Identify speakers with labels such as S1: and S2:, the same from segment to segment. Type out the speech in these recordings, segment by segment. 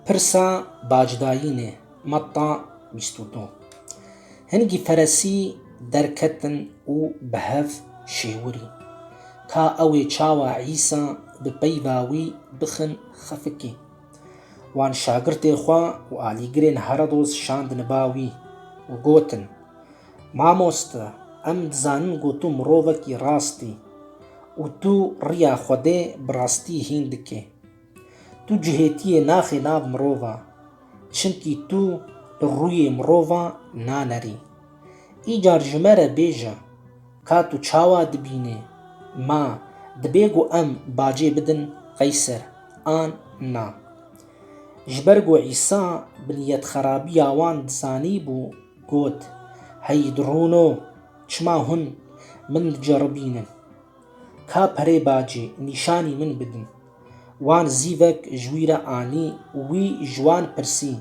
S1: Pirsa bacdayînê matta bîst û du Hingî feresî derketin û bi hev şêwirî ka ewê çawa Îsa bi peyva wî bixin xefikî. Wan şagirtê xwe û alîgirên Herodos şandin ba wî û gotin, Mamoste, em dizanin ku tu mirovekî rast î û tu riya Xwedê bi rastî hîn dikî. Tu cihêtiyê naxî nav mirova, çimkî tu li rûyê mirovan nanerî. Îcar ji me re bêje, ka tu çawa dibînî, ma dibê ku em bacê bidin Qeyser an na? Ji ber ku Îsa bi niyetxerabiya wan dizanîbû, Got, Hey drono, çima hûn min diceribînin? Ka perê bacê, nîşanî min bidin. Wan zîvek ji wî re anî û wî ji wan pirsî,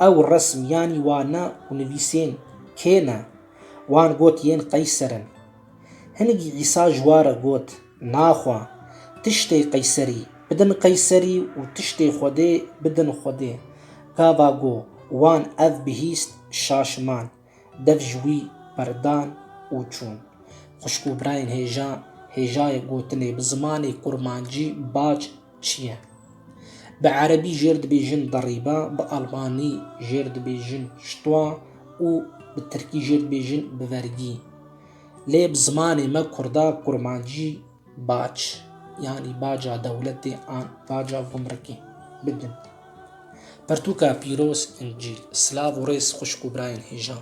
S1: Ew resm yanî wa ne û nivîsên kê ne? Wan got, Yên Qeyser in. Hinek Îsa ji wa re got, Naxwe. Tiştê qeyserî, bidin qeyserî û tiştê Xwedê, bidin Xwedê. Gava go, wan ev bihîst şaşiman. Dev ji wî berdan û çûn. Xwişk û birayên hêja, hêjayê gotinê bi zimanê kurmancî bac çi ye? Bi erebî jêr dibêjin derîba, bi almanî jêr dibêjin stwa û bi tirkî jêr dibêjin bivergî. Lê bi zimanê me kurda kurmancî bac yanî baca dewletê an baca gumrikê bidin. Pirtûka pîroz, Încîl, silav û rêz xwişk û birayên hêjan.